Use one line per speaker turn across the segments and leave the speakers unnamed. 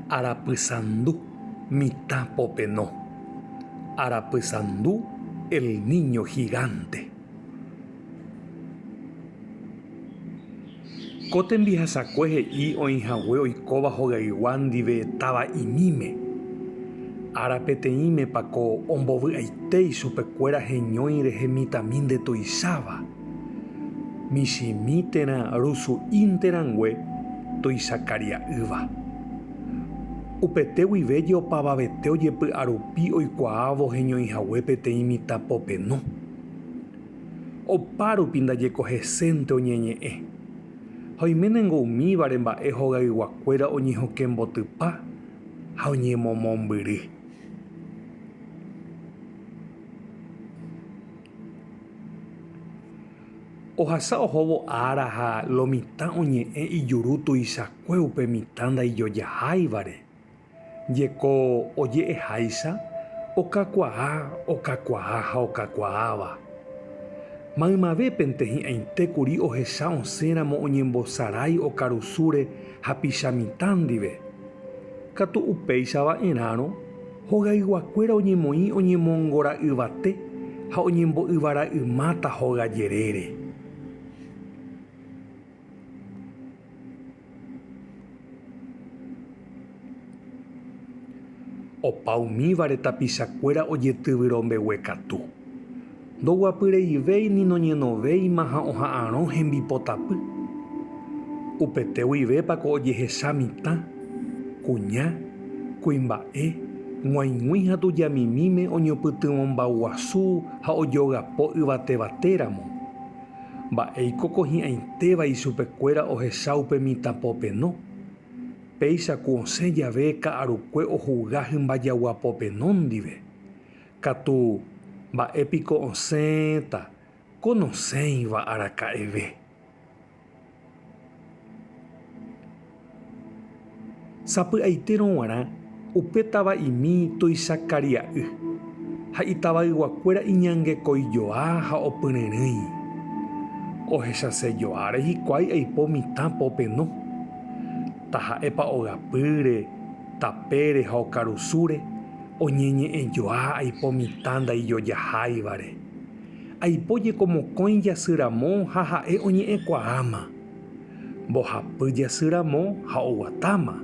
Arapysandu mitã popeno. Arapysandu el niño gigante. Ko tembihasakue he'i oĩhague oikóva hogaygua ndive táva imíme. Ára peteĩme pa ko ombovy'aite ichupekuéra heñói rehe mitãmi nde tuicháva. michĩmi térã rusu'ínte rangue toisakaria'ýva. Upete guive jeopavavete ojepy'arupi oikuaávo heñoihague peteĩ mitã popeno. Opárupi ndajeko hesénte oñeñe'ẽ, ha oiménengo umívare mba'e hogayguakuéra oñehokẽmbotypa ha oñemomombyry. Ohasa ohóvo ára ha lo mitã oñe'ẽ ijuru tuichakue upe mitã ndaijojaháivare. Jeko oje'eháicha, okakuaa, okakuaa ha okakuaáva. Maymavépente hi'ãite kuri ohecha osẽ ramo oñembosarái okarusúre hapicha mitã ndive. Katu upéicha va'erãrõ, Hogayguakuéra oñemoĩ oñemongora'yvate ha oñembo'yvara'ymáta hoga jerére. Opa umívare tapichakuéra ojetyvyrõ mbeguekatu. Ndoguapyreivéi ni noñenovéima ha oha'arõ hembipotapy. Upete guivépa ko ojehecha mitã, kuña, kuimba'e, g̃uaig̃ui ha tujamimíme oñopytyvõmbauguasu ha ojogapo yvatevate ramo? Mba'éiko ko hi'ãitéva ichupekuéra ohecha upe mitã popeno? Péicha ku osẽ jave ka'arukue ohuga hymba jagua popeno ndive, Katu, mba'e piko osẽta ko nosẽiva araka'eve? Sapy'aitérõ g̃uarã upe tava'imi tuicha karia'y, ha itavayguakuéra iñangekoijoa ha opyryrỹi. Ohechasejoáre hikuái aipo mitã popeno. Taha'épa ogapýre, Tapére ha okarusúre oñeñe'ẽjoa aipo mitã ndaijojaháivare. Aipo jeko mokõi jasy ramo ha ha'e oñe'ẽkuaáma. Mbohapy jasy ramo ha oguatáma.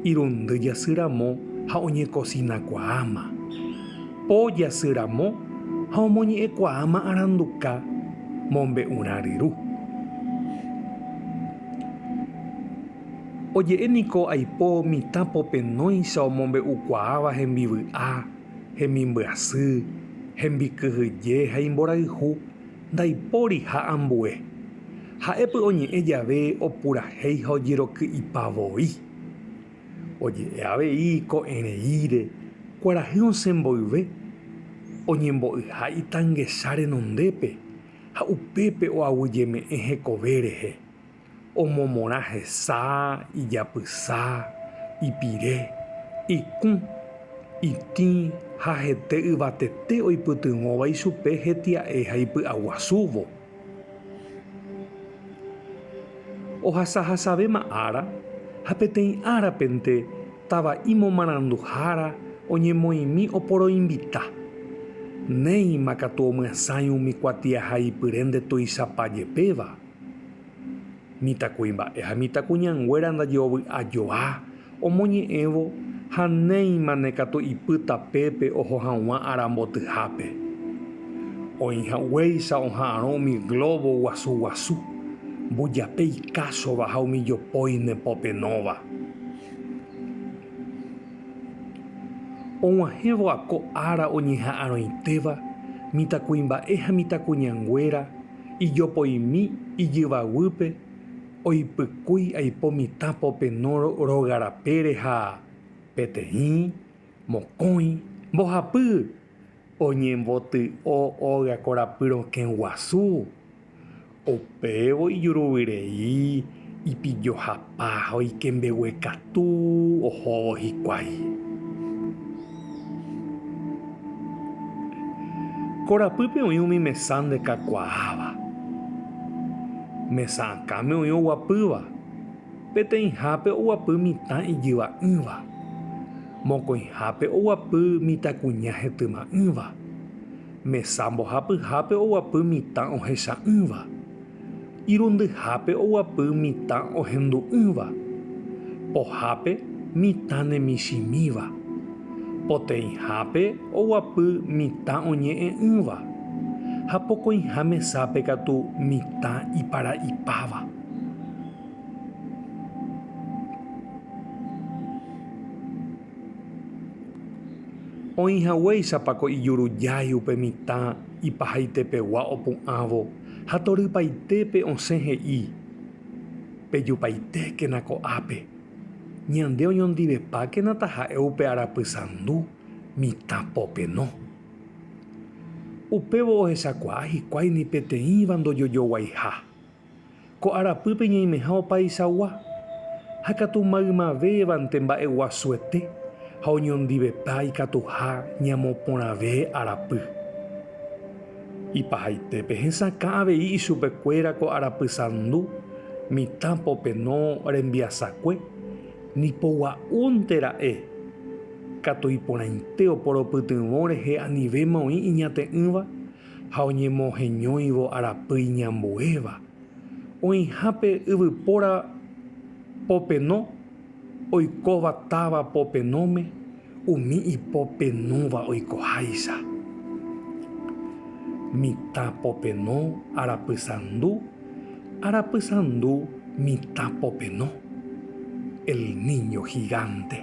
Irundy jasy ramo ha oñekosinakuaáma. Po jasy ramo ha omoñe'ẽkuaáma aranduka mombe'urã ryru. Oje'e niko aipo mitã popenóicha omombe'ukuaáva hembivy'a, hemimbyasy, hembikyhyje ha imborayhu, ndaipóriha ambue. Ha'e py'oñe'ẽ jave opurahéi ha ojeroky'ipa voi. Oje'e avei ko'ẽreíre, kuarahy osẽ mboyve, oñembo'yha itangecha renondépe ha upépe oaguyjeme'ẽ hekove rehe. Omomorã hesa, ijapysa, ipire, ikũ, itĩ ha hete yvatete oipytyvõva ichupe hetia'e ha ipy'aguasúvo. Ohasahasavéma ára ha peteĩ árapente tava'i momaranduhára oñemoĩmi oporoinvita. Néima katu omyasãi umi kuatiahaipyre nde tuichapa jepéva. Mitãkuimba'e ha mitãkuñanguéra ndajeovy'ajoa, omoñe'ẽvo ha néima ne katu ipy tapépe oho haguã ára mbotyhápe. Oĩ haguéicha oha'arõ umi glóbo guasu guasu, mbujape ikásova ha umi jopói ne popenóva. Oguahẽvo ako ára oñeha'arõitéva, mitãkuimba'e ha mitãkuñanguéra, Ijopoimi ijyvaguýpe oipykúi aipo mitã popenó róga rapére ha peteĩ, mokõi, mbohapy oñemboty'o óga korapy rokẽ guasu. Upévo ijuruvyrei ipillohapa ha oike mbegue katu ohóvo hikuái. Korapýpe oĩ umi mesa ndekakuaáva. Mesa akãme oĩ oguapýva, peteĩhápe oguapy mitã ijyva'ỹva, mokõihápe oguapy mitãkuña hetyma'ỹva, mesa mbohapyhápe oguapy mitã ohecha'ỹva, irundyhápe oguapy mitã ohendu'ỹva, pohápe mitã nemichĩmíva, poteĩhápe oguapy mitã oñe'ẽ'ỹva, ha pokõiha mesápe katu mitã ipara'ipáva. Oĩhaguéichapa ko ijurujái upe mitã ipahaitepegua opu'ãvo. ha torypaitépe osẽ he'i, Pejupaitékena ko'ápe, ñande oñondivepákena taha'e upe arapy sandu mitã popeno. Upévo ohechakuaa hikuái ni peteĩva ndojojoguaiha. Ko arapýpe ñaimeha opaichagua, ha katu maymavévante mba'eguasuete ha oñondivepa ikatuha ñamoporãve arapy. Ipahaite pehesakã avei ichupekuéra ko arapysandu mitã popeno rembiasakue, nipogua'únte ra'e, katu iporãite oporopytyvõ rehe anivéma oĩ iñate'ỹva ha oñemoheñóivo arapy iñambuéva. Oĩha pe yvypóra popeno oikóva táva popenóme, Umi ipopenóva oikoháicha, mitã popenó arapysandu, arapysandu mitã popenó, El Niño Gigante.